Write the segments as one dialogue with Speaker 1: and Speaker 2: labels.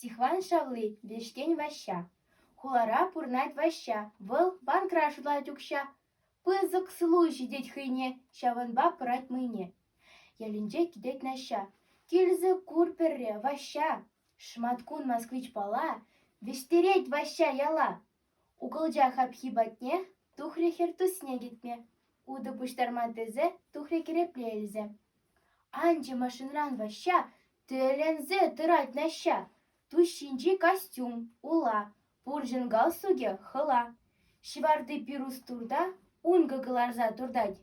Speaker 1: Стихван шавли – Вешкен Ваҫҫа. Хулара пурнать Ваҫҫа, вӑл банкра шутлать укҫа. Пысӑк сылу ҫитет хӑйне, ҫавӑнпа пӑрать мӑйне. Ялӗнче килет Наҫҫа. Килсӗ кур пӗрре, Ваҫҫа. Шматкун москвичпала вӗҫтерет Ваҫҫа яла. Укӑлча хапхи патне тухрӗ хӗр тусне кӗтме. Утӑ пуҫтарма тесе тухрӗ кӗрепле илсе. Анчӗ машинран Ваҫҫа Тӗлӗнсе тӑрать Наҫҫа. Тус ҫинчи костюм ула, пурҫӑн галстукӗ хӑла. Ҫӑварти пирус турта ункӑ кӑларса туртать.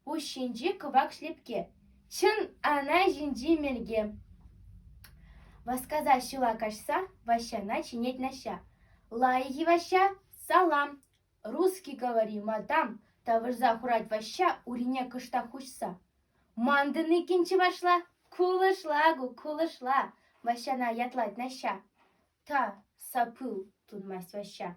Speaker 1: Пуҫ ҫинчи кӑвак шлепке. Чӑн ана ҫинчи мелке. Васкаса ҫула каҫса Ваҫҫана чӗнет Наҫҫа. Лайӑх-и, Ваҫҫа? Салам! Русский, говори, мадам, — тавӑрса хурать Ваҫҫа урине кӑштах уҫса. — Ман тӑниккӗн чӑвашла кулӑшла-ку, кулӑшла, — Ваҫҫана ятлать Наҫҫа. — Та, сапыл, — тунмасть Ваҫҫа.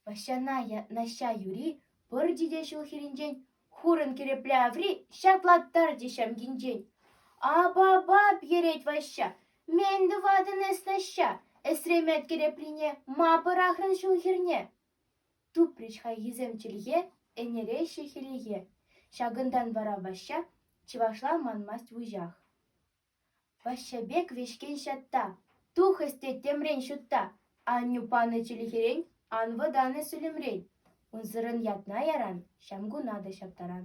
Speaker 1: Ваҫҫана Наҫҫа юри пӑрчӗ те ҫул хирӗнчен хурӑн кӗрепле аври ҫатлаттар те ҫамкинчен. — Ап-ап-ап, йӗрет Ваҫҫа, мӗн тӑватӑн эс, Наҫҫа, эсремет кӗреприне ма пӑрахрӑн ҫул хирне? Тупрӗҫ хайхисем чӗлхе ӗнереҫҫӗ хӗллехе, ҫакӑнтан вара Ваҫҫа чӑвашла манмасть вуҫах. Ваҫҫа пек вӗҫкен ҫатта, тухӑҫ те темрен ҫутта, аннӳ панӑ чӗлхерен ан вӑтанӗ сӳлӗмрен, унсӑрӑн ятна яран, ҫамкуна та ҫаптаран.